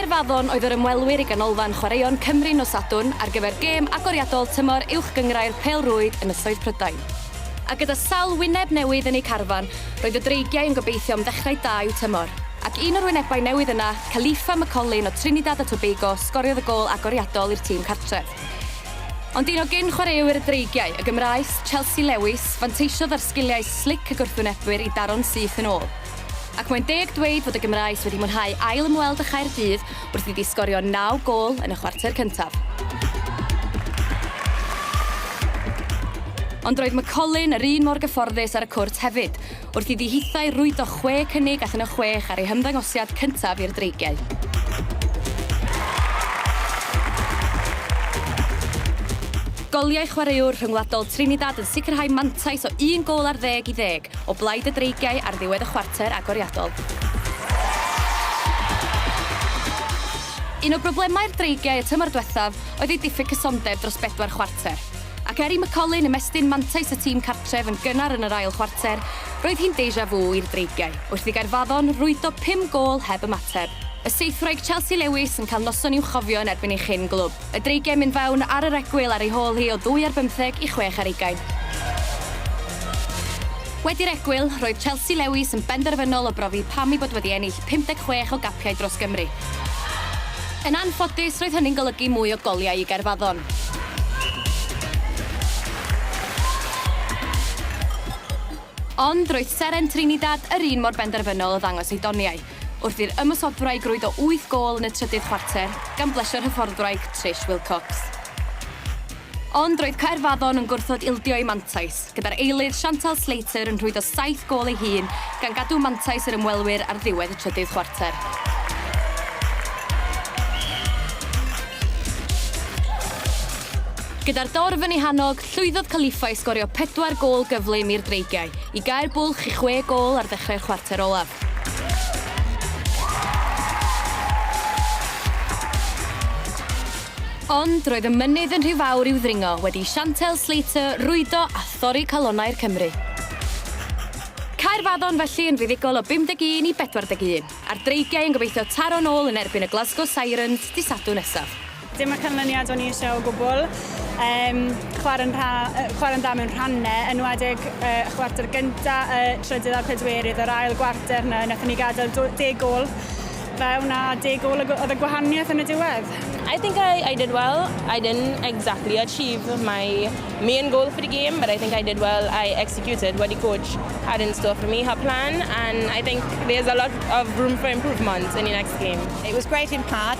Caerfaddon oedd yr ymwelwyr i Ganolfan Chwaraeon Cymru nos Sadwrn ar gyfer gêm agoriadol tymor Uwch Gynghrair Pêl-rwyd Ynysoedd Prydain. A gyda sawl wyneb newydd yn eu carfan, roedd y Dreigiau yn gobeithio am ddechrau da i'w tymor. Ac un o'r wynebau newydd yna, Khalifa McCollin o Trinidad a Tobago sgoriodd y gôl agoriadol i'r tîm cartref. Ond un o gyn-chwaraewyr y Dreigiau, y Gymraes, Chelsea Lewis, fanteisiodd ar sgiliau slic y gwrthwynebwyr i daro'n syth yn ôl. Ac mae'n deg dweud fod y Gymraes wedi mwynhau ail ymweld â Chaerdydd wrth iddi sgorio naw gôl yn y chwarter cyntaf. Ond roedd McCollin yr un mor gyfforddus ar y cwrt hefyd, wrth iddi hithau rwydo chwe cynnig allan o chwech ar ei hymddangosiad cyntaf i'r Dreigiau. Goliau chwaraewr rhyngwladol Trinidad yn sicrhau mantais o un gôl ar ddeg i ddeg o blaid y Dreigiau ar ddiwedd y chwarter agoriadol. Un o broblemau'r Dreigiau y tymor diwethaf oedd eu diffyg cysondeb dros bedwar chwarter, ac er i McCaulin ymestyn mantais y tîm cartref yn gynnar yn yr ail chwarter, roedd hi'n deja vu i'r Dreigiau wrth i Gaerfaddon rwydo pum gôl heb ymateb. Y seithwraig Chelsea Lewis yn cael noson i'w chofio yn erbyn ei chyn-glwb. Y dreigiau'n mynd fewn ar yr egwyl ar ei hôl hi o ddwy ar bymtheg i chwech ar ugain. Wedi'r egwyl, roedd Chelsea Lewis yn benderfynol o brofi pam ei bod wedi ennill 56 o gapiau dros Gymru. Yn anffodus, roedd hynny'n golygu mwy o goliau i Gaerfaddon. Ond, roedd seren Trinidad yr un mor benderfynol o ddangos ei doniau. wrth i'r ymosodwraig rwydo wyth gôl yn y trydydd chwarter gan blesio'r hyfforddwraig Trish Wilcox. Ond roedd Caerfaddon yn gwrthod ildio i mantais, gyda'r eilydd Chantal Slater yn rhwydo saith gôl ei hun gan gadw mantais yr ymwelwyr ar ddiwedd y trydydd chwarter. Gyda'r dorf yn ei hannog, llwyddodd Califfa i sgorio pedwar gôl gyflym i'r Dreigiau i gau'r bwlch i chwe gôl ar ddechrau'r chwarter olaf. Ond roedd y mynydd yn rhy fawr i'w ddringo wedi i Chantelle Slater rwydo a thorri calonnau'r Cymry. Caerfaddon felly yn fuddugol o 51 i 41, a'r Dreigiau yn gobeithio taro'n ôl yn erbyn y Glasgow Sirens dy Sadwrn nesaf. Dim y canlyniad o'n i eisiau o gwbl. Um, chwarae'n chwarae dda mewn rhannau, enwedig uh, chwarter gyntaf, y trydydd a'r pedwerydd, yr ail gwarter yna, wnaethon ni gadael deg gol fe wna deg ôl oedd y gwahaniaeth yn y diwedd. I think I, I did well. I didn't exactly achieve my main goal for the game, but I think I did well. I executed what the coach had in store for me, her plan, and I think there's a lot of room for improvement in the next game. It was great in part.